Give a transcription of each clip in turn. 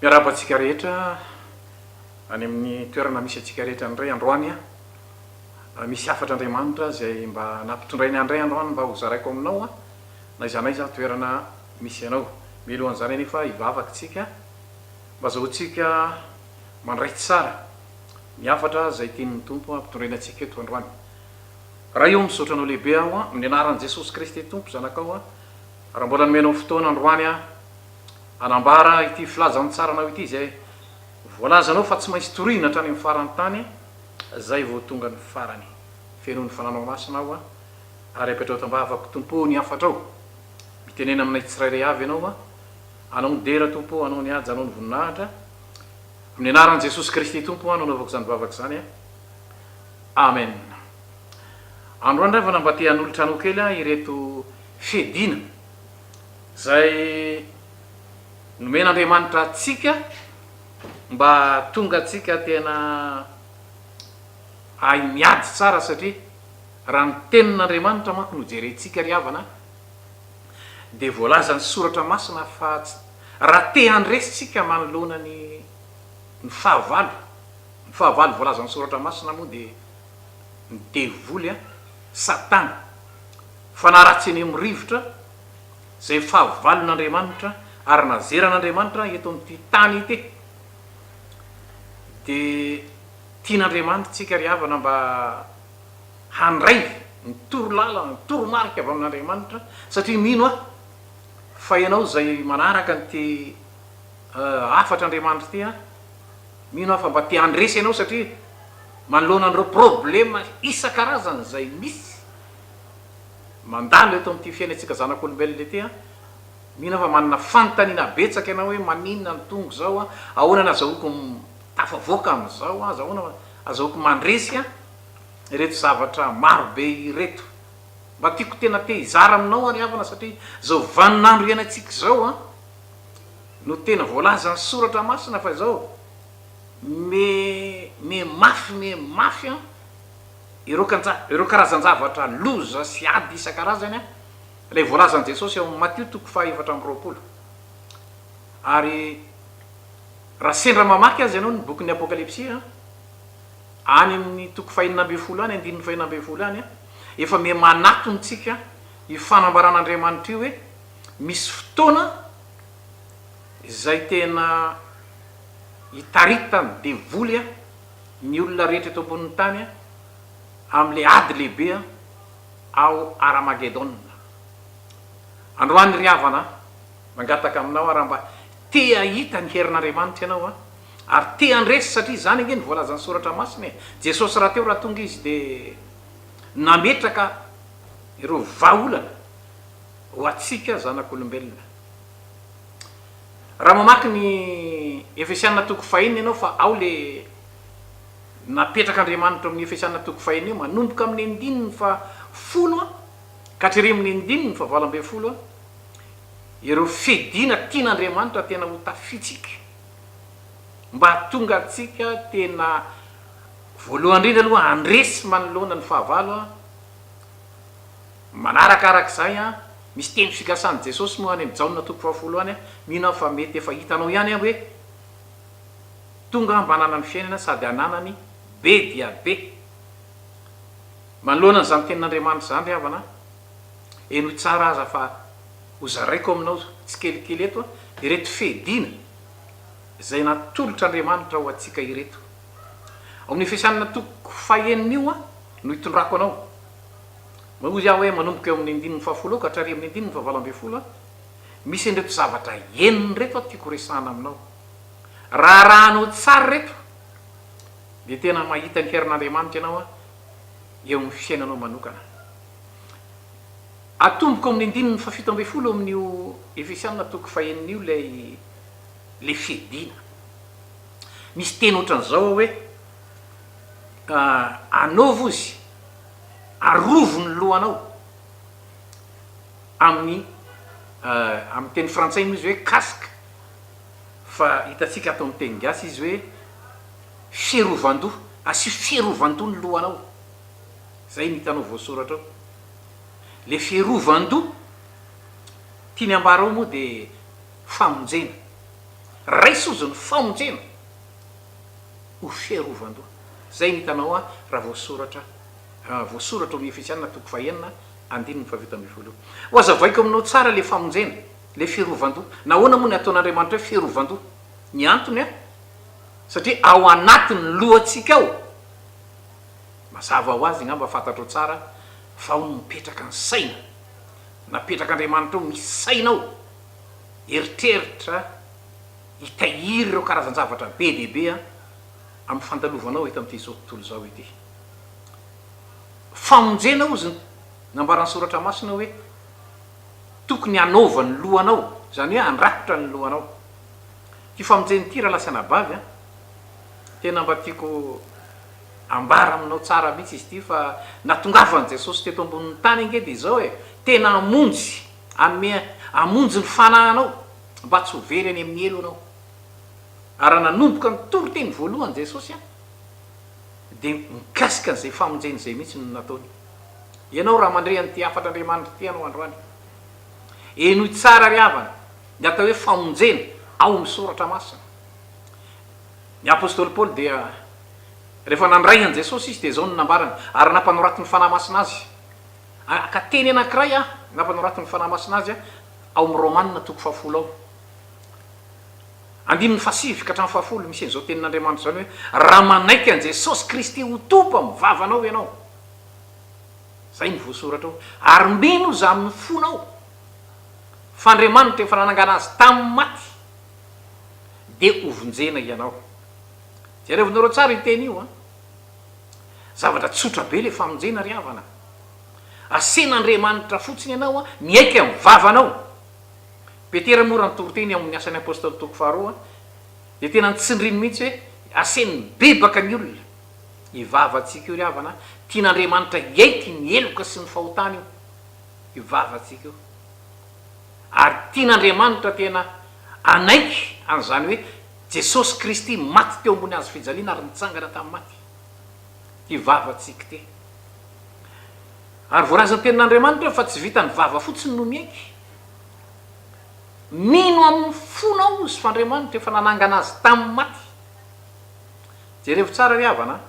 Miarahaba antsika rehetra any amin'ny toerana misy antsika rehetra indray androany an! Misy hafatr'Andriamanitra izay mba nampitondrainy ahy indray androany mba hozaraiko aminao an! Na aiza na aiza ny toerana misy anao. Mialohan'izany anefa hivavaka isika mba azahoantsika mandray tsara ny hafatra izay tian'ny Tompo hampitondraina antsika eto androany. Ray ô misaotra anao lehibe aho a amin'ny anaran'i Jesosy Kristy Tompo zanakao a raha mbola nomenao fotoana androany a anambara ity filazantsaranao ity izay voalazanao fa tsy maintsy torihina hatrany amin'ny faran'ny tany zay vao tonga ny farany fenoin'ny fananao masina aho a ary apetrao tambavako Tompo ô ny hafatrao mitenena aminay tsirairay avy ianao a anao ny dera Tompo ô anao ny haja anao ny voninahitra amin'ny anaran'i Jesosy Kristy Tompo a no anaovako izany vavaka izany a. Amen. Androany ndray vao na mba te hanolotra anao kely aho ireto fiadiana izay nomen'Andriamanitra antsika mba tonga antsika tena hahay miady tsara satria raha ny tenin'Andriamanitra manko no jerentsika ry havana dia voalazan'ny soratra masina fa raha te handresy tsika manoloana ny ny fahavalo Ny fahavalo voalazan'ny Soratra Masina moa dia ny devoly, an, Satana, fanahy ratsy eny amin'ny rivotra, izay fahavalon'Andriamanitra ary nazeran'Andriamanitra eto amin'ity tany ity. Dia tian'Andriamanitra isika ry havana mba handray ny torolalana, ny toromarika avy amin'Andriamanitra, satria mino aho fa ianao izay manaraka an'ity hafatr'Andriamanitra ity, an, Mino aho fa mba te handresy ianao satria manoloana an'ireo problema isan-karazany izay misy mandalo eto amin'ity fiainantsika zanak'olombelona ity an! Mino aho fa manana fanontaniana betsaka ianao hoe maninona no tonga izao an? Ahoana no azahoako mitafavoaka amin'izao an? Ahoana no azahoako mandresy an? Ireto zavatra maro be ireto. Mba tiako tena te hizara aminao ary havana satria izao vaninandro iainantsika izao an! no tena voalazan'ny soratra masina fa izao me me mafy me mafy an ireo kanja ireo karazan-javatra loza sy ady isan-karazany an ilay voalazan'i Jesosy ao amin'ny Matio toko faha efatra amby roapolo ary raha sendra mamaky azy ianao ny bokin'ny Apokalypsy an any amin'ny toko faha enina ambin'ny folo any andininy faha enina ambin'ny folo any an efa me manatontsika io fanambaran'Andriamanitra io hoe Misy fotoana izay tena hitaritan'ny devoly ny olona rehetra eto ambonin'ny tany amin'ilay ady lehibe ao Haramagedona. Androany ry havana, mangataka aminao aho raha mba te hahita ny herin'Andriamanitra ianao ary te handresy satria izany ange no voalazan'ny Soratra Masina e. Jesosy rahateo raha tonga Izy dia nametraka ireo vahaolana. Ho antsika zanak'olombelona. Raha mamaky ny Efesiana toko fahenina ianao fa ao le napetrak'Andriamanitra ao amin'ny Efesiana toko fahenina io, manomboka amin'ny andininy fahafolo ka hatrerỳ amin'ny andininy fahavalo ambin'ny folo, ireo fiadiana tian'Andriamanitra tena ho tafitsika mba hahatonga antsika tena voalohany indrindra aloha handresy manoloana ny fahavalo, Manaraka araka izay an, misy teny figasan'i Jesosy moa any amin'ny Jaona toko fahafolo any an, mino aho fa mety efa hitanao ihany an hoe, Tonga aho mba hananany fiainana sady hananany be dia be. Manoloana an'izany tenin'Andriamanitra izany ry havana an, henoy tsara aza fa ho zaraiko aminao tsikelikely eto an, ireto fehidina izay natolotr'Andriamanitra ho antsika ireto. Ao amin'ny Efesianina toko fahenina io an, no hitondrako anao. Mba hoy aho hoe manomboka eo amin'ny andininy fahafolo eo ka hatrary amin'ny andininy fahavalo ambin'ny folo aho, misy an'ireto zavatra enina ireto aho tiako horesahana aminao. Raha arahanao tsara ireto dia tena mahita ny herin'Andriamanitra ianao eo amin'ny fiainanao manokana. Atomboko amin'ny andininy fahafito ambin'ny folo eo amin'io Efesiana toko fahenina io ilay ilay fiadiana. Misy teny ohatran'izao ao hoe, Anaovo izy. Arovo ny lohanao amin'ny amin'ny teny frantsay moa izy hoe casque fa hitantsika ato amin'ny teny gasy izy hoe fiarovan-doha, asio fiarovan-doha ny lohanao, izay no hitanao voasoratra ao. Ilay fiarovan-doha tiany ambara ao moa dia famonjena. Raiso hozy ny famonjena ho fiarovan-doha. Izay no hitanao ahy raha voasoratra raha voasoratra ao amin'ny Efesianina toko fahenina andininy fahafito ambin'ny folo io. Hohazavaiko aminao tsara ilay famonjena, ilay fiarovan-doha. Nahoana moa no ataon'Andriamanitra hoe fiarovan-doha? Ny antony an, satria ao anatin'ny lohantsika ao. Mazava ho azy angamba fantatrao tsara fa ao no mipetraka ny saina. Napetrak'Andriamanitra ao ny saina ao. Eritreritra, hitahiry ireo karazan-javatra be dia be an. Amin'ny fandalovanao eto amin'ity zao tontolo izao ity famonjena ozy ny nambaran'ny soratra masina hoe tokony hanova ny lohanao, izany hoe handrakotra ny lohanao. Ity famonjena ity rahalahy sy anabavy an, tena mba tiako ambara aminao tsara mihitsy izy ity fa natongavan'i Jesosy teto ambonin'ny tany ange dia izao e, tena hamonjy, hanome hamonjy ny fanahy anao mba tsy ho very any amin'ny helo ianao. Ary raha nanomboka nitory teny voalohany Jesosy an, dia mikasika an'izay famonjena izay mihitsy no nataony. Ianao raha mandre an'ity hafatr'Andriamanitra ity ianao androany, henoy tsara ry havana ny atao hoe famonjena ao amin'ny Soratra Masina. Ny Apostoly Paoly dia rehefa nandray an'i Jesosy izy dia izao no nambarany, Ary nampanoratin'ny Fanahy Masina azy an, ka teny anankiray an, nampanoratin'ny Fanahy Masina azy an, ao amin'ny Romana toko fahafolo ao. Andininy fahasivy ka hatramin'ny fahafolo, misy an'izao tenin'Andriamanitra izao ny hoe, Raha manaiky an'i Jesosy Kristy ho Tompo amin'ny vavanao ianao, izay no voasoratra ao, ary mino Izy amin'ny fonao fa Andriamanitra efa nanangana Azy tamin'ny maty, dia hovonjena ianao. Jereo nareo tsara io teny io an! Zavatra tsotra be ilay famonjena ry havana. Asen'Andriamanitra fotsiny ianao miaiky amin'ny vavanao. Petera moa raha ny toriteny ao amin'ny Asan'ny Apostoly toko faharoa dia tena notsindriny mihitsy hoe asehony mibebaka ny olona. Io vavantsika io ry havana a! Tian'Andriamanitra hiaiky ny heloka sy ny fahotana io io vavantsika io. Ary tian'Andriamanitra tena hanaiky an'izany hoe Jesosy Kristy maty teo ambony hazo fijaliana ary nitsangana tamin'ny maty ity vavantsika ity. Ary voarazam-piainan'Andriamanitra io fa tsy vitan'ny vava fotsiny no miaiky. Mino amin'ny fonao izy fa Andriamanitra efa nanangana azy tamin'ny maty. Jerevo tsara ry havana an!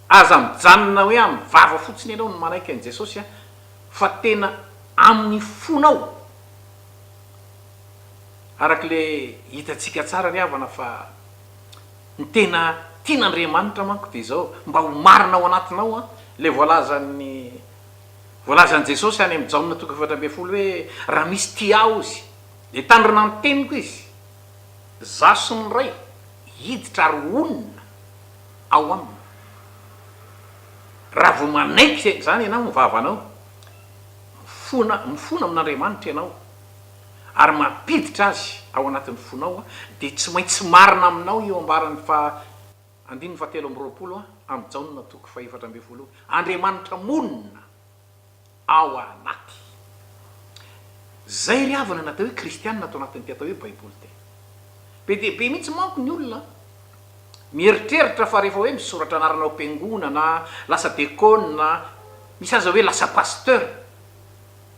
Aza mijanona hoe amin'ny vava fotsiny ianao no manaiky an'i Jesosy an, fa tena amin'ny fonao. Arak'ilay hitantsika tsara ry havana fa. Ny tena tian'Andriamanitra manko dia izao, mba ho marina ao anatinao an, ilay voalazan'ny voalazan'i Jesosy any amin'ny Jaona toko efatra ambin'ny folo hoe, Raha misy tia Ahy ozy, dia tandrina ny teniko izy, Izaho sy ny Ray hiditra ary honina ao aminy. Raha vao manaiky izany ianao amin'ny vavanao, mifona mifona amin'Andriamanitra ianao. ary mampiditra azy ao anatin'ny fonao, dia tsy maintsy marina aminao io ambaran'ny faha andininy fahatelo amby roapolo amin'i Jaona toko fahefatra ambin'ny folo io, Andriamanitra monina ao anaty. Izay ry havana ny atao hoe kristiana ato anatin'ity atao hoe Baiboly ity. Be dia be mihitsy manko ny olona mieritreritra fa rehefa hoe misoratra anarana ao am-piangonana, lasa dekôna, misy aza hoe lasa pasteur.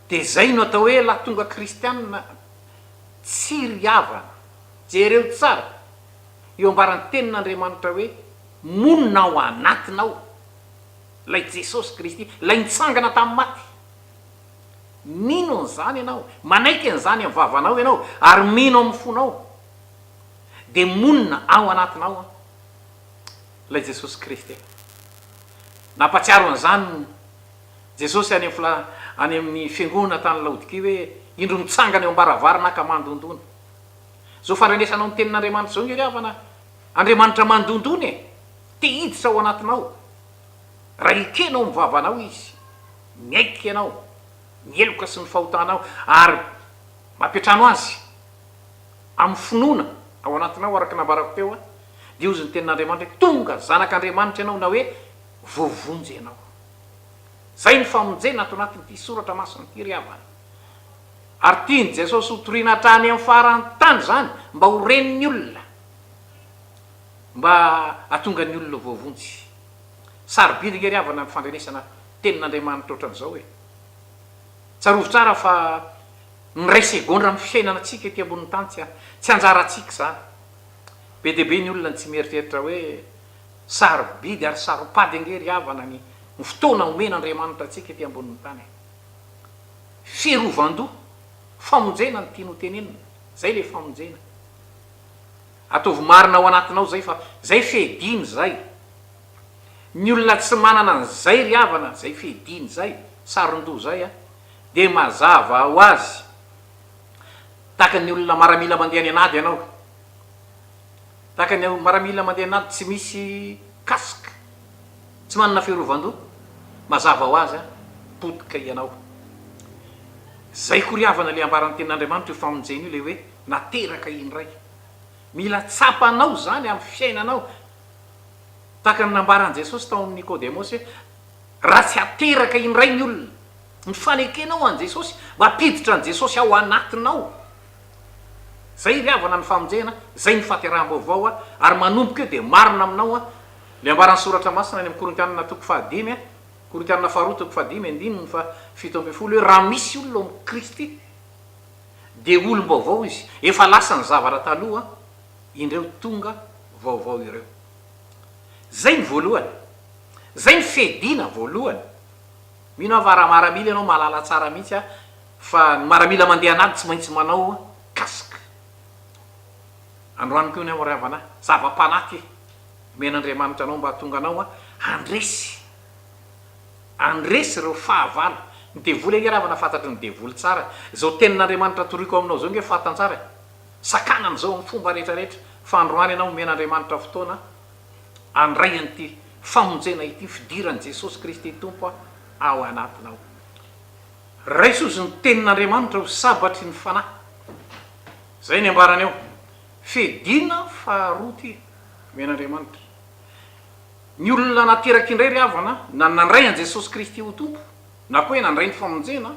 Dia izay no atao hoe lahatonga kristianina tsy ry havana. Jereo tsara io ambaran'ny Tenin'Andriamanitra hoe, Monina ao anatinao Ilay Jesosy Kristy, Ilay nitsangana tamin'ny maty. Mino an'izany ianao, manaiky an'izany amin'ny vavanao ianao, ary mino amin'ny fonao, dia monina ao anatinao Ilay Jesosy Kristy. Nampahatsiaro an'izany ny. Jesosy any amin'ny any amin'ny fiangonana tany Laodikia hoe, Indro mitsangana eo am-baravarana aho ka mandondona. Izao fandrenesanao ny tenin'Andriamanitra izao nge ry havana a! Andriamanitra mandondona e! Te hiditra ao anatinao. Raha ekenao ny vavanao Izy, miaiky ianao, ny heloka sy ny fahotanao, ary mampiantrano Azy amin'ny finoana ao anatinao araka ny nambarako teo a, dia hozy ny tenin'Andriamanitra hoe, Tonga zanak'Andriamanitra ianao na hoe, Voavonjy ianao. Izay ny famonjena ato anatin'ity soratra masina ity ry havana. Ary tian'i Jesosy ho toriana hatrany amin'ny faran'ny tany izany mba ho ren'ny olona, mba hahatonga ny olona ho voavonjy. Sarobidy ange ry havana ny fandrenesana tenin'Andriamanitra ohatran'izao e! Tsarovy tsara fa miray segondra amin'ny fiainana antsika ety ambonin'ny tany tsy tsy anjarantsika izany. Be dia be ny olona no tsy mieritreritra hoe, Sarobidy ary saro-pady ange ry havana ny ny fotoana omen'Andriamanitra antsika ety ambonin'ny tany e! Fiarovan-doha, famonjena no tiany ho tenenina, zay le famonjena. Ataovy marina ao anatinao zay fa zay fehidiny zay. Ny olona tsy manana an'izay ry havana, zay fehidiny zay, saron-doha zay a, dia mazava ho azy, tahaka ny olona maramila mandeha any an'ady ianao. tahaka ny miaramila mandeha anaty tsy misy casque, tsy manana fiarovan-doha, mazava ho azy an, potika ianao. Zay koriavana le ambaran'ny tenin'Andriamanitra io famonjena io le hoe nateraka indray. Mila tsapanao zany amin'ny fiainanao, tahaka ny nambaran'i Jesosy tao amin'i Nikodemosy hoe raha tsy ateraka indray ny olona, ny fanekenao an'i Jesosy, mampiditra an'i Jesosy ao anatinao, Zay ry havana ny famonjena, zay ny fahateraham-baovao, ary manomboka eo dia marina aminao an, le ambaran'ny soratra masina any amin'ny Korintianina toko fahadimy an, Korintianina faharoa toko fahadimy andininy faha fito ambin'ny folo hoe raha misy olona ao amin'i Kristy dia olom-baovao izy, efa lasa ny zavatra taloha, indreo tonga vaovao ireo. Zay ny voalohany. Zay ny fedina voalohany. Mino aho fa raha maramila ianao mahalala tsara mihitsy an. Fa ny maramila mandeha an'ady tsy maintsy manao casque. Androany koa ny anao ry havana a! Zava-panahy ty! Omena Andriamanitra anao mba hahatonga anao handresy, handresy ireo fahavalo. Ny devoly ange ry havana fantatry ny devoly tsara e! Izao tenin'Andriamanitra atoriako aminao izao ange fantany tsara e! Sakanany izao amin'ny fomba rehetra rehetra fa androany ianao omena Andriamanitra fotoana handray an'ity famonjena ity fidiran'i Jesosy Kristy Tompo ao anatinao. Raiso ozy ny tenin'Andriamanitra ho sabatry ny fanahy. Zay ny ambarany ao. Fedina faharoa ty omen'Andriamanitra. Ny olona nateraka indray ry havana na nandray an'i Jesosy Kristy ho Tompo na koa hoe nandray ny famonjena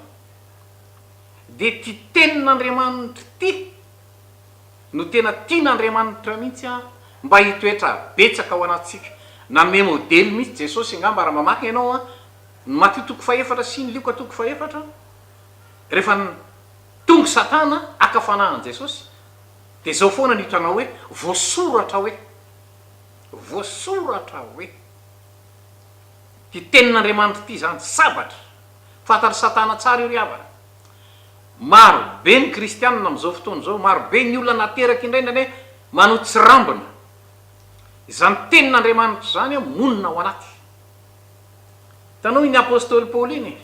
dia ty tenin'Andriamanitra ty no tena tian'Andriamanitra mihitsy mba hitoetra betsaka ao anatintsika. Nanome modely mihitsy Jesosy angamba raha mamaky ianao an. Ny Matio toko fahefatra sy ny Lioka toko fahefatra, rehefa tonga Satana haka fanahy an'i Jesosy, dia izao foana no hitanao hoe voasoratra hoe. Voasoratra hoe. Ity tenin'Andriamanitra ity izany, sabatra. Fantatr'i Satana tsara io ry havana. Maro be ny kristianina amin'izao fotoana izao, maro be ny olona nateraka indraindray anie manao tsirambina. Izany tenin'Andriamanitra izany monina ao anaty. Tanohin'ny apostoly Paoly iny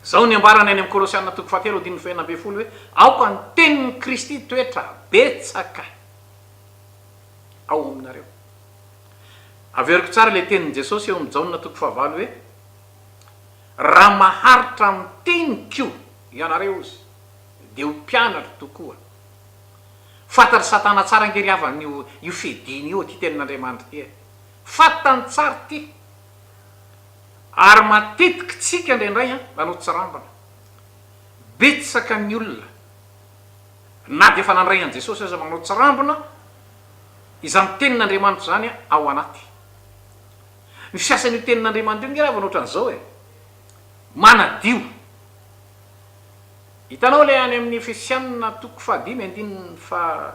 izao ny ambarany any amin'ny Kolosiana toko fahatelo andininy fahenina ambin'ny folo hoe, Aoka ny tenin'i Kristy hitoetra betsaka ao aminareo. Averiko tsara ilay tenin'i Jesosy eo amin'ny Jaona toko fahavalo hoe, Raha maharitra amin'ny teniko ianareo ozy, dia ho mpianatro tokoa. Fantatr'i Satana tsara ange ry havana io fehidiny io ity tenin'Andriamanitra ity e! Fantany tsara ity ary matetiky tsika indraindray an nanao tsirambina. Betsaka ny olona na dia efa nandray an'i Jesosy aza manao tsirambina izany tenin'Andriamanitra izany ao anaty. Ny fiasan'io tenin'Andriamanitra io nge lava nohatran'izao e, manadio. Hitanao ilay any amin'ny Efesianina toko fahadimy andininy faha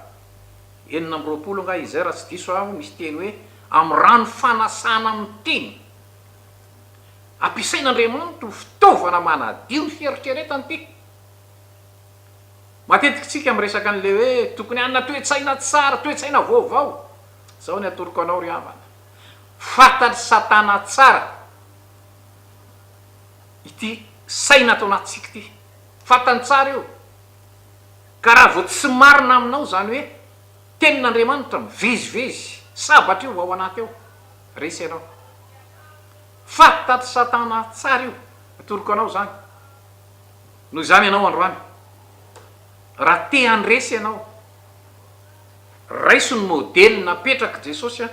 enina amby roapolo angaha izay raha tsy diso aho misy teny hoe amin'ny rano fanasana amin'ny teny. Ampiasain'Andriamanitra ho fitaovana manadio ny fieritreretana ity. Matetika isika miresaka an'ilay hoe tokony hanana toe-tsaina tsara, toe-tsaina vaovao. Izao ny atoroko anao ry havana, fantatr'i Satana tsara ity saina ato anatintsika ity. Fantany tsara io. Ka raha vao tsy marina aminao izany hoe tenin'Andriamanitra mivezivezy sabatra io ao anaty ao, resy ianao. Faty taty satana tsara io, atoroko anao izany. Noho izany ianao androany, raha te handresy ianao, raiso ny modely napetrak'i Jesosy an,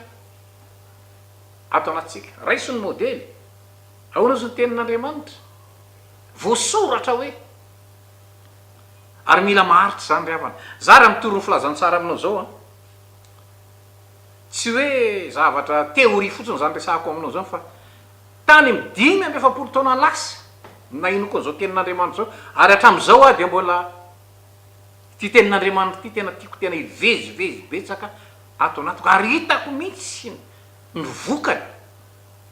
ato anatintsika. Raiso ny modely. Ahoana hozy ny tenin'Andriamanitra? Voasoratra hoe. Ary mila maharitra izany ry havana. Za raha mitory ny filazantsara aminao izao an, tsy hoe zavatra théorie fotsiny izany resahako aminao izany fa tany amin'ny dimy amby efapolo taona lasa no nahinoko an'izao tenin'Andriamanitra izao ary hatramin'izao aho dia mbola ity tenin'Andriamanitra ity tena tiako tena hivezivezy betsaka ato anatiko ary hitako mihitsy ny vokany,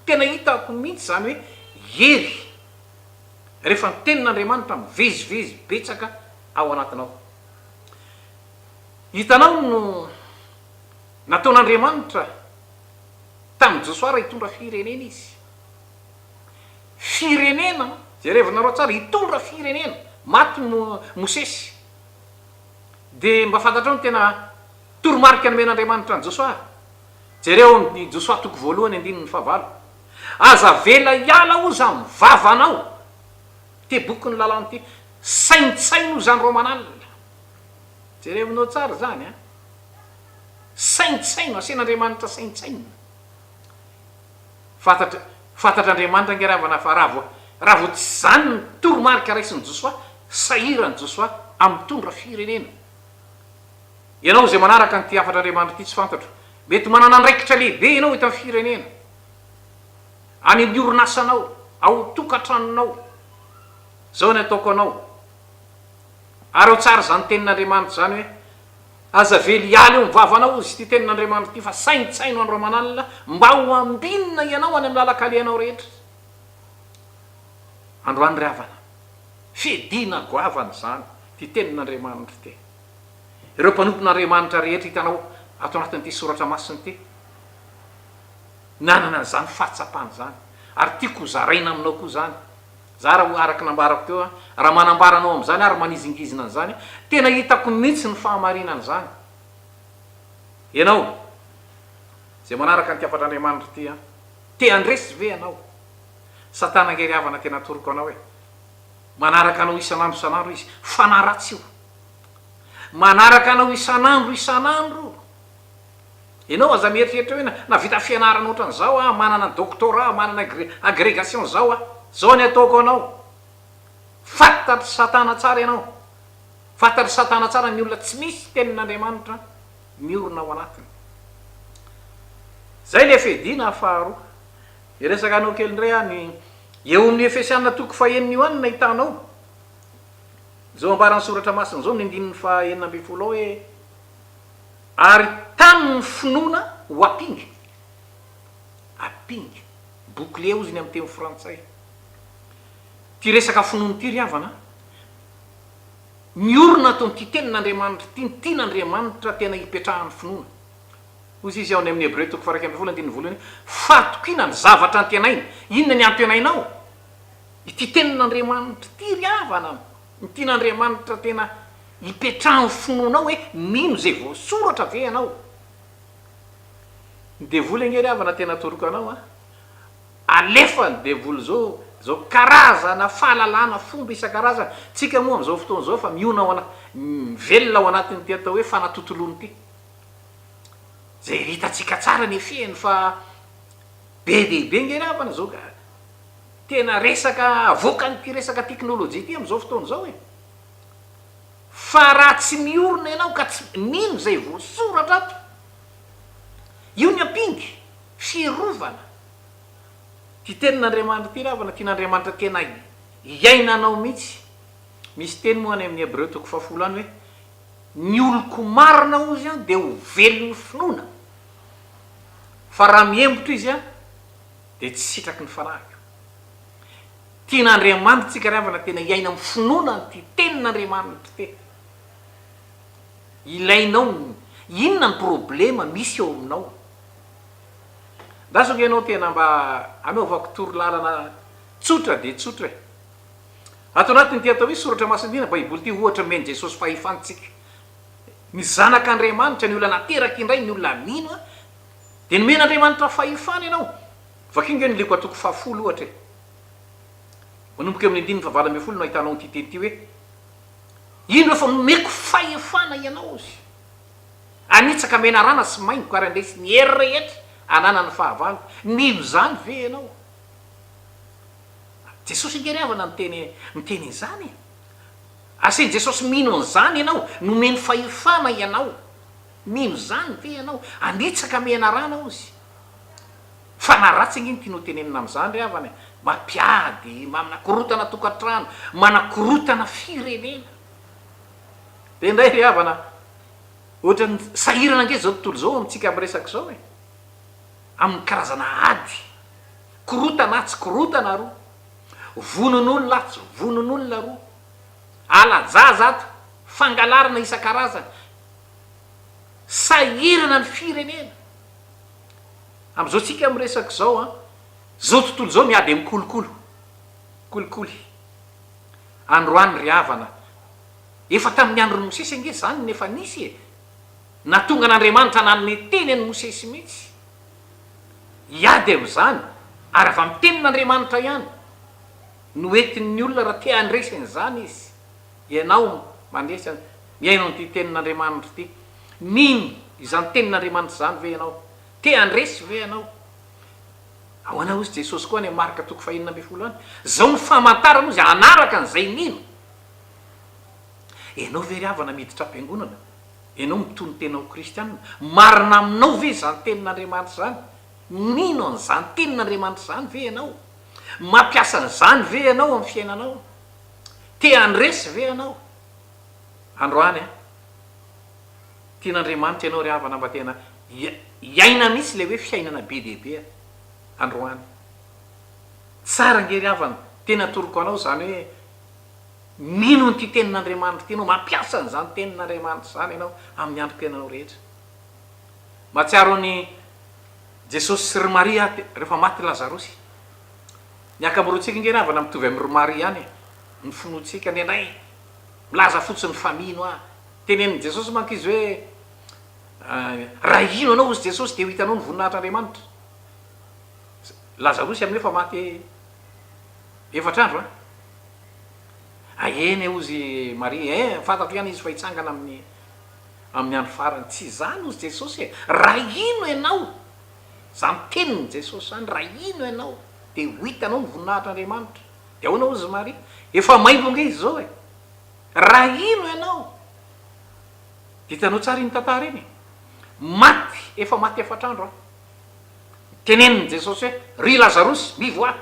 tena hitako mihitsy izany hoe hery. Rehefa ny tenin'Andriamanitra mivezivezy betsaka ao anatinao. Hitanao no nataon'Andriamanitra tamin'i Josoa raha hitondra firenena izy. Firenena, jerevinareo tsara, hitondra firenena. Maty Mosesy. Dia mba fantatrao ny tena toromarika nomen'Andriamanitra an'i Josoa? Jereo amin'i Josoa toko voalohany andininy fahavalo. Aza avela hiala oza am vavanao ty bokin'ny lalàna ty. Saintsaino izany Romanal. Jerevinao tsara izany an. Saintsaino, asen'Andriamanitra saintsainina. Fantatra fantatr'Andriamanitra ange ravana fa raha vao raha vao tsy izany ny toromarika raisin'i Josoa, sahiran'i Josoa hamitondra firenena. Ianao izay manaraka an'ity hafatr'Andriamanitra ity tsy fantatro, mety manana andraikitra lehibe ianao eto amin'ny firenena, any amin'ny orinasanao, ao tokantranonao. Izao ny ataoko anao, araho tsara izany tenin'Andriamanitra izany hoe, Aza vely hiala eo amin'ny vavanao izy ity tenin'Andriamanitra ity fa saintsaino andro aman'alina mba ho ambinina ianao any amin'ny lalan-kalehanao rehetra. Androany ry havana, fiadiana goavana izany ity tenin'Andriamanitra ity. Ireo mpanompon'Andriamanitra rehetra hitanao ato anatin'ity soratra masina ity, nanana an'izany fahatsapana izany. Ary tiako ho zaraina aminao koa izany. Zara ho'a araka ny nambarako teo an, raha manambara anao amin'izany ary manizingizina an'izany, tena hitako mihitsy ny fahamarinan'izany. Ianao izay manaraka an'ity hafatr'Andriamanitra ity an, te handresy ve ianao? Satana angery havana tena atoroko anao e! Manaraka anao isan'andro isan'andro izy, fanaratsio! Manaraka anao isan'andro isan'andro. Ianao aza mieritreritra hoe nahavita fianarana ohatran'izao aho, manana doctorat, manana agrégation izao aho, izao ny ataoko anao. Fantatr'i Satana tsara ianao. Fantatr'i Satana tsara ny olona tsy misy tenin'Andriamanitra miorina ao anatiny. Izay ilay fiadiana faharoa. Hiresaka anao kely indray aho ny eo amin'ny Efesiana toko fahenina io ihany no nahitanao. Izao ambaran'ny Soratra Masina izao amin'ny andininy faha enina ambin'ny folo ao hoe, Ary tamin' ny finoana ho apinga, apinga, bouclier hozy ny amin'ny teny frantsay, ity resaka finoana ity ry havana an, miorina ato amin'ity tenin' Andriamanitra ity ny tian' Andriamanitra tena hipetrahan'ny finoana. Hozy Izy ao any amin'ny Hebreo toko faha iraika ambin'ny folo andininy voalohany hoe, Fahatokiana ny zavatra antenaina. Inona ny antenainao? Ity tenin'Andriamanitra ity ry havana, ny tian'Andriamanitra tena hipetrahan'ny finoanao hoe mino izay voasoratra ve ianao. Ny devoly ange ry havana tena atoroka anao an! Alefa ny devoly izao, izao karazana fahalalana fomba isan-karazany, tsika moa amin'izao fotoana izao efa miona ao ana, mivelona ao anatin'ity atao hoe fanatontoloana ity. Izay hitantsika tsara ny efeny fa be dia be ange ry havana izao ka. Tena resaka avoakan'ity resaka teknolojia ity amin'izao fotoana izao e! Fa raha tsy miorina ianao ka tsy mino izay voasoratra ato, io ny ampinga, fiarovana. Ity tenin'Andriamanitra ity ravana, tian'Andriamanitra tena iainanao mihitsy. Misy teny moa any amin'ny Hebreo toko fahafolo any hoe, Ny oloko marina hozy an, dia ho velon'ny finoana, fa raha mihembotra izy an, dia tsy sitraky ny fanahiko. Tena Andriamanitrtsika ry havana tena hiaina amin'ny finoana an'ity tenin'Andriamanitra ity. Ilainao ny inona ny problema misy eo aminao. Andraso ve ianao tena mba hanaovako torolalana tsotra dia tsotra e. Ato anatin'ity atao hoe soratra masina ity na baiboly ity ohatra omen'i Jesosy fahefantsika. Ny zanak'Andriamanitra ny olona nateraka indray ny olona mino Dia nomen'Andriamanitra fahefana ianao. Vakio nge ny Lko toko fahafolo ohatra e. Manomboka eo amin'ny andininy fahavalo ambin'ny folo no ahitanao ity teny ity hoe, Indro fa nomeko fahefana ianao sy hanitsaka menarana sy maingoka ary handresy ny hery rehetra ananan'ny fahavalo. Mino izany ve ianao? Jesosy nge ry havana no teny miteny izany e. Asain'i Jesosy mino an'izany ianao, nomeny fahefana ianao. Mino izany ve ianao? Hanitsaka menarana ozy. Fa na ratsy ange ny tianao tenenina amin'izany ry havana e! Mampiady, manakorotana tokantrano, manakorotana firenena. Dia indray ry havana, ohatran'ny sahirana ange izao tontolo izao amintsika miresaka izao e! Amin'ny karazana ady, korotana atsy korotana aroa, vononolona atsy vononolona aroa, hala-jaza ato, fangalarana isan-karazany, Sahirana ny firenena. Amin'izao tsika miresaka izao an, izao tontolo izao miady amin'ny kolokolo, kolikoly. Androany ry havana, efa tamin'ny andron'i Mosesy ange izany no efa nisy e! Nahatonga an'Andriamanitra nanome teny an'i Mosesy mihitsy, hiady amin'izany, ary avy amin'ny tenin'Andriamanitra ihany no entin'ny olona raha te handresy an'izany izy. Ianao mandresy an! Mihaino an'ity Tenin'Andriamanitra ity. Mino izany Tenin'Andriamanitra izany ve ianao? Te handresy ve ianao? Ahoana hozy Jesosy koa any amin'ny Marka toko fahenina ambin'ny folo any? Izao no famantarana hozy hanaraka an'izay mino. Ianao ve ry havana miditra am-piangonana? Ianao mitono tena ho kristiana? Marina aminao ve izany Tenin'Andriamanitra izany? Mino an'izany Tenin'Andriamanitra izany ve ianao? Mampiasa an'izany ve ianao amin'ny fiainanao? Te handresy ve ianao androany an? Tian'Andriamanitra ianao ry havana mba tena hiaina mihitsy ilay hoe fiainana be dia be androany. Tsara ange ry havana, tena atoroko anao izany hoe mino an'ity tenin'Andriamanitra ity ianao, mampiasa an'izany tenin'Andriamanitra izany ianao amin'ny androm-piainanao rehetra. Mahatsiaro an'i Jesosy sy ry Maria aho rehefa maty Lazarosy. Ny ankamorontsika ange ravana mitovy amin'i Romary ihany e! Ny finoantsika, ny anay, milaza fotsiny fa mino aho. Tenenin'i Jesosy manko izy hoe, Raha hino anao, hozy Jesosy, dia ho hitanao ny voninahitr'Andriamanitra. Lazarosy amin'io efa maty efatra andro an! Ah, eny e, hozy Maria, eh, fantatro ihany izy fa hitsangana amin'ny, amin'ny andro farany. Tsy izany, hozy Jesosy e! Raha hino ianao, Za miteny ny Jesosy zany ra ino enao de ho itanao ny voninahitr Andriamanitra de ahoana ozy Maria efa maimbo nge izy zao e ra ino enao de itanao tsara iny tantara iny e maty efa maty efatra andro an tenenin ny Jesosy hoe ry Lazarosy mivoaha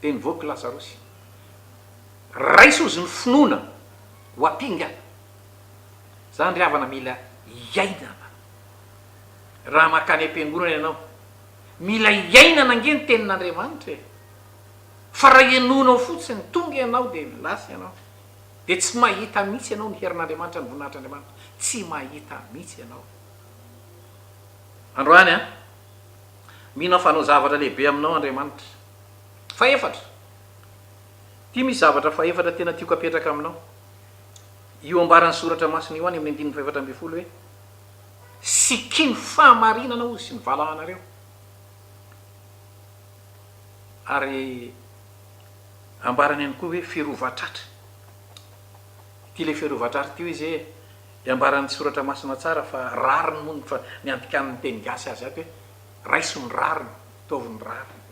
de nivoaka i Lazarosy raiso ozy ny finoana ho apinga zany ry havana mila iainana. raha mankany am-piangonana ianao. Mila iainana ange ny tenin'Andriamanitra e! Fa raha henoinao fotsiny, tonga ianao dia lasa ianao. Dia tsy mahita mihitsy ianao ny herin'Andriamanitra, ny voninahitr'Andriamanitra. Tsy mahita mihitsy ianao. Androany an! Mino aho fa hanao zavatra lehibe aminao Andriamanitra. Fahefatra. Ity misy zavatra fahefatra tena tiako apetraka aminao. Io ambaran'ny Soratra Masina io any amin'ny andininy fahefatra ambin'ny folo hoe. Sikino fahamarinana hozy sy ny valahanareo ary ambarany ihany koa hoe firovatratra. Ity ilay firovatratra ity hoy izy hoe dia ambaran'ny soratra masina tsara fa rariny moa ny fa ny andikanin'ny teny gasy azy ato hoe raiso ny rariny, ataovy ny rariny.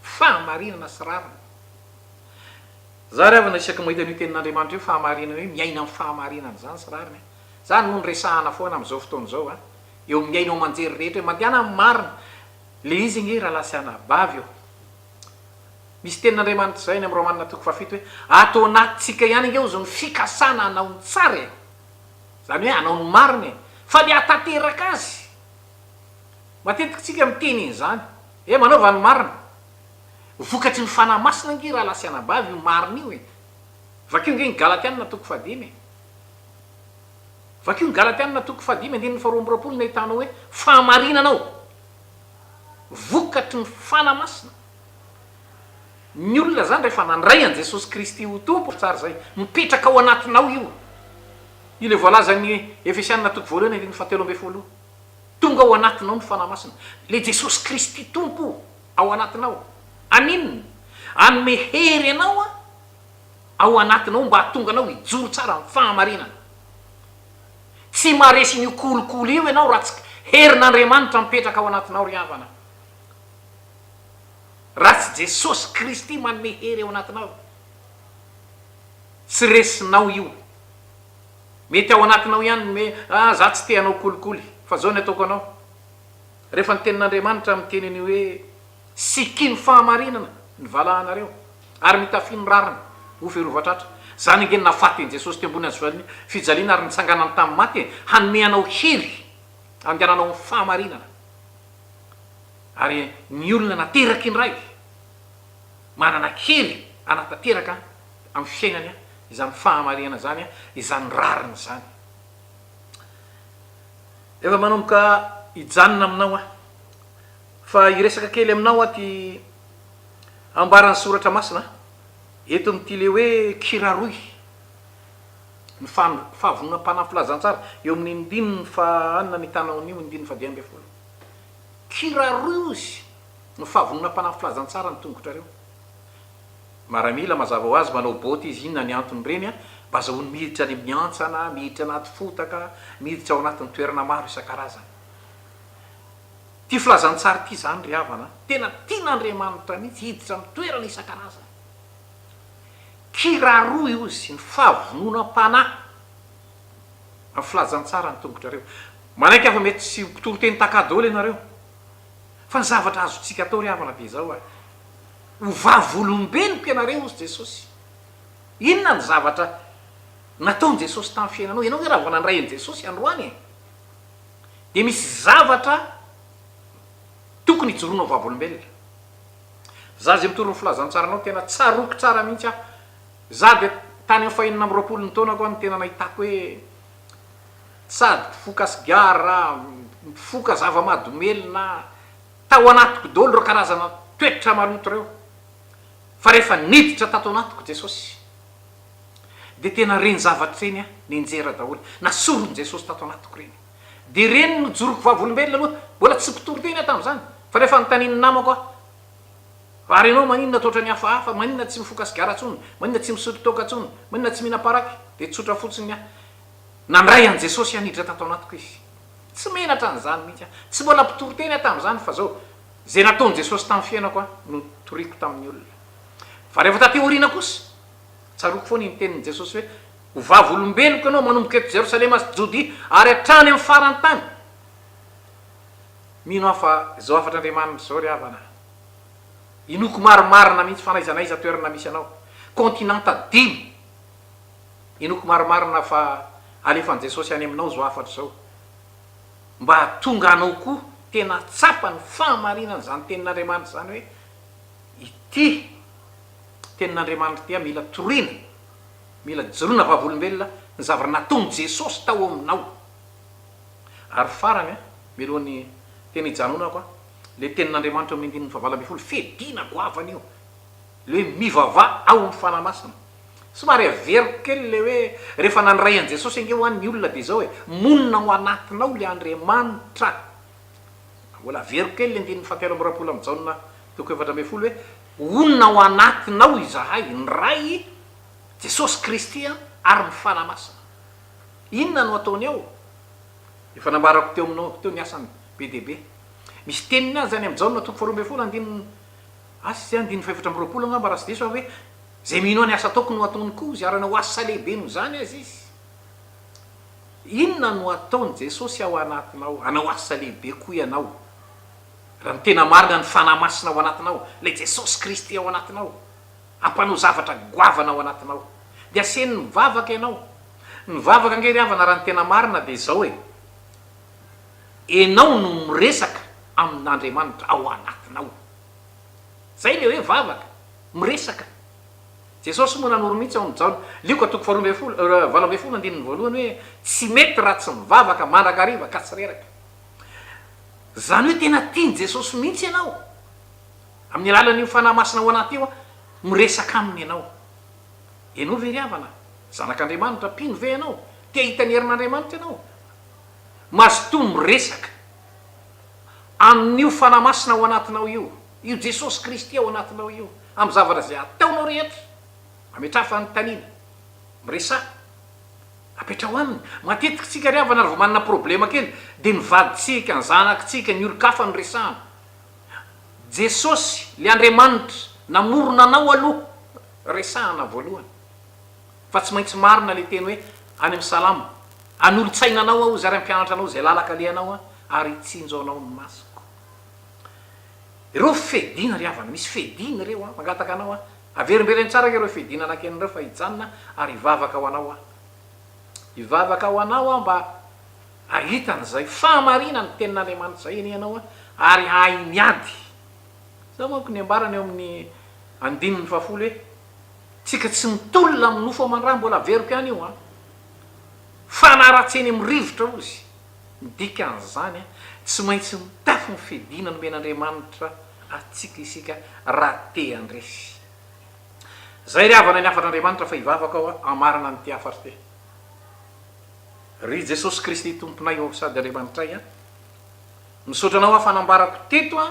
Fahamarinana sy rariny. Za ry havana isaky mahita an'io tenin'Andriamanitra io fahamarinana io miaina amin'ny fahamarinana izany sy rariny aho. Izany moa no resahana foana amin'izao fotoana izao an! Eo amin'ny haino aman-jery rehetra eo. Mandehana amin'ny marina. Ilay izy ange rahalahy sy anabavy ô! Misy tenin'Andriamanitra izay any amin'ny Romana toko fahafito hoe, Ato anatintsika ihany ange hozy ny fikasana hanao ny tsara e! Izany hoe hanao ny marina e! Fa ny hahatanteraka azy! Matetika isika miteny an'izany. Ee, manaova ny marina. Vokatry ny Fanahy Masina ange rahalahy sy anabavy io marina io e! Vakio ange ny Galatiana toko fahadimy e! Vakio ny Galatiana toko fahadimy andininy faharoa amby roapolo ny ahitana hoe fahamarinana ao, vokatry ny Fana Masina. Ny olona zany rehefa nandray an'i Jesosy Kristy ho Tompo ry tsara zay, mipetraka ao anatinao io. Io le voalazan'ny Efesiana toko voalohany andininy fahatelo ambin'ny folo. Tonga ao anatinao ny Fana Masina. Le Jesosy Kristy Tompo ao anatinao. Amin. Hanome hery anao an. Ao anatinao mba hahatonga anao hijoro tsara amin'ny fahamarinana. Tsy maharesy an'io kolikoly io ianao raha tsy herin'Andriamanitra mipetraka ao anatinao ry havana. Raha tsy Jesosy Kristy manome hery ao anatinao, tsy resinao io. Mety ao anatinao ihany ny hoe, ah za tsy te hanao kolikoly, fa zao ny ataoko anao. Rehefa ny tenin'Andriamanitra miteny an'io hoe. Sikino fahamarinana ny valahanareo ary mitafio ny rariny ho firovatratra. Zany ange ny nahafatin'i Jesosy teo ambony hazovalon'ny fijaliana ary nitsanganany tamin'ny maty e! Hanome anao hery handehananao amin'ny fahamarinana. Ary ny olona nateraka indray manana hery hanatanteraka amin'ny fiainany izany fahamarinana izany, izany rariny izany. Efa manomboka hijanona aminao aho. Fa hiresaka kely aminao aho ty ambaran'ny soratra masina an, eto amin'ity le hoe kiraroy ny fahavononam-panahy filazantsara eo amin'ny ndininy faha anina ny tanao anio ny ndininy fadimy ambin'ny folo kiraroy hozy ny fahavononam-panahy filazantsara ny tongotrareo maramila mazava ho azy manao boty izy inona ny antony ireny an mba azahoany miditra any amin'ny antsana miditra anaty fotaka miditra ao anatin'ny toerana maro isan-karazany Ity filazantsara ity izany ry havana a! Tena tian'Andriamanitra mihitsy hiditra amin'ny toerana isan-karazany. Kiraroy hozy ny fahavononam-panahy amin'ny filazantsara ny tongotrareo. Manaiky aho fa mety tsy ho mpitoriteny taka daholo ianareo, fa ny zavatra azontsika atao ry havana dia izao ary, ho vavolombeloko ianareo hozy Jesosy. Inona ny zavatra nataon'i Jesosy tamin'ny fiainanao? Ianao ve raha vao nandray an'i Jesosy androany e? dia misy zavatra tokony hijoroanao vavolombelona. Za zay mitory ny filazantsaranao tena tsaroako tsara mihitsy aho. Za dia tany am fahenina amby roapolo ny taonako aho no tena nahitako hoe sady mpifoka sigara, mpifoka zava-madomelina, tao anatiko daholo ireo karazana toetra maloto ireo. Fa rehefa niditra tato anatiko Jesosy. Dia tena ireny zavatra ireny aho nenjera daholo nasoron'i Jesosy tato anatiko ireny. Dia ireny no joroko vavolombelona aloha, mbola tsy mpitory teny aho tamin'izany fa rehefa notanin'ny namako aho, ary ianao maninona toa ohatran'ny hafahafa, maninona tsy mifoka sigara intsony, maninona tsy misotro toaka intsony, maninona tsy mihinam paraky, dia tsotra fotsiny ny ahy. Nandray an'i Jesosy haniditra tato anatiko Izy. Tsy menatra an'izany mihitsy aho. Tsy mbola mpitory teny aho tamin'izany fa izao, izay nataon'i Jesosy tamin'ny fiainako aho no toriako tamin'ny olona. Fa rehefa taty aoriana kosa, Tsaroako foana iny tenin'i Jesosy hoe, Ho vavolombeloko ianao manomboka eto Jerosalema sy Jodia ary hatrany amin'ny faran'ny tany. Mino aho fa izao hafatr'Andriamanitra izao ry havana a! Inoako marimarina mihitsy fa na aiza na aiza toerana misy anao, kaontinanta dimy, inoako marimarina fa alefan'i Jesosy any aminao izao hafatra izao, mba hahatonga anao koa tena hahatsapa ny fahamarinan'izany tenin'Andriamanitra izany hoe, Ity. Tenin'Andriamanitra dia mila toriana, mila joroana vavolombelona ny zavatra nataon'i Jesosy tao aminao. Ary farany, mialohan'ny tena hijanonako, ilay tenin'Andriamanitra eo amin'ny andininy fahavalo ambin'ny folo, fiadiana goavana io, ilay hoe mivavaha ao amin'ny Fanahy Masina. Somary averiko kely ilay hoe rehefa nandray an'i Jesosy ange ho'a ny olona dia izao e, monina ao anatinao ilay Andriamanitra. Mbola averiko kely ilay andininy fahatelo amby roapolo amin'i Jaona toko efatra ambin'ny folo hoe, Honina ao anatinao izahay, ny Ray, Jesosy Kristy ary ny Fanahy Masina. Inona no ataony eo? Efa nambarako teo aminao teo ny asany be dia be. Misy teniny azy any amin'i Jaona toko faharoa ambin'ny folo andininy, asa izay andininy fahefatra amby roapolo angamba raha tsy diso aho, hoe, Izay mino ahy ny asa ataoko no hataony koa, izay hanana ho asa lehibe noho izany aza izy. Inona no ataon'i Jesosy ao anatinao? Hanao asa lehibe koa ianao. Raha ny tena marina ny Fanahy Masina ao anatinao, ilay Jesosy Kristy ao anatinao, hampanao zavatra goavana ao anatinao. Dia asehony mivavaka ianao. Ny vavaka ange ry havana raha ny tena marina dia izao e, enao no miresaka amin'Andriamanitra ao anatinao. Izay ilay hoe vavaka, miresaka. Jesosy moa nanoro mihitsy ao amin'ny Jaona, Lioka toko faharoa ambin'ny folo, valo ambin'ny folo andininy voalohany hoe tsy mety raha tsy mivavaka mandrakariva ka tsy reraka. Izany hoe tena tian'i Jesosy mihitsy ianao. Amin'ny alalan'io Fanahy Masina ao anaty io, miresaka aminy ianao. Ianao ve ry havana? Zanak'Andriamanitra? Mpino ve ianao? Te hahita ny herin'Andriamanitra ianao? Mazotoa miresaka amin'io Fanahy Masina ao anatinao io, io Jesosy Kristy ao anatinao io, amin'ny zavatra izay ataonao rehetra. Ametraha fanontaniana. Miresaha. Apetraho aminy. Matetiky tsika ry havana ry vao manana problema kely dia ny vadintsika, ny zanakitsika, ny olon-kafa no resahana. Jesosy, le Andriamanitra namorona anao aloha resahana voalohany. Fa tsy maintsy marina le teny hoe any amin'ny salamo, Hanolo-tsaina anao aho izy ary hampianatra anao izay lalaka alehanao aho ary hitsinjo anao ny masoko. Ireo fedina ry havana, misy fedina ireo an, mangataka anao an, Averimbereno tsara ireo fidinana akeny ireo fa hijanona ary hivavaka ho anao aho. Hivavaka ho anao aho mba hahita an'izay fahamarinan'ny Tenin'Andriamanitra izay eny ianao ary hahay miady. Izao manko ny ambarany eo amin'ny andininy fahafolo hoe, Tsika tsy mitolona amin'ny nofo aman-dra, mbola averiko ihany io an! Fanaratsiany amin'ny rivotra, hozy. Ny dikan'izany, tsy maintsy mitafy ny fidina nomen'Andriamanitra antsika isika raha te handresy. Izay ry havana ny hafatr'Andriamanitra fa hivavaka aho hamarana an'ity hafatra ity. Ry Jesosy Kristy Tomponay ô sady Andriamanitray a, misaotra Anao aho fa nambarako teto a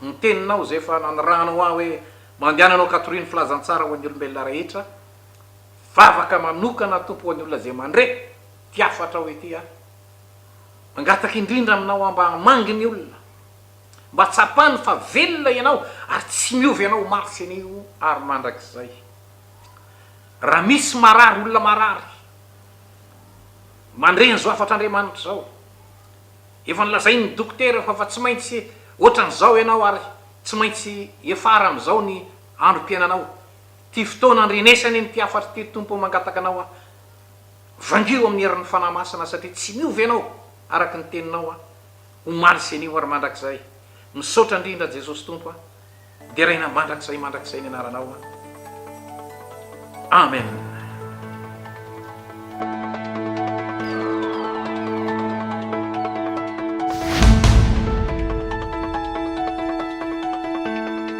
ny teninao izay efa nanirahanao ahy hoe mandehana hanao katoria ny filazantsara ho an'ny olombelona rehetra, vavaka manokana Tompo ho an'ny olona izay mandre. Tiafo hatrao ety aho. Mangataka indrindra aminao aho mba hamangy ny olona. Mba tsapany fa velona ianao ary tsy miova ianao omaly sy anio ary mandrakizay. Raha misy marary olona marary mandre an'izao hafatr'Andriamanitra izao. Efa nolazain'ny dokotera fa fa tsy maintsy ohatran'izao ianao ary tsy maintsy hiafara amin'izao ny androm-piainanao. Ity fotoana andrenesany iny ity hafatra ity ry Tompo ô mangataka anao aho. Vangio amin'ny herin'ny Fanahy Masina satria tsy miova ianao araka ny teninao aho omaly sy anio ary mandrakizay. Misaotra indrindra Jesosy Tompo a. Deraina mandrakizay mandrakizay ny anaranao a. Amen.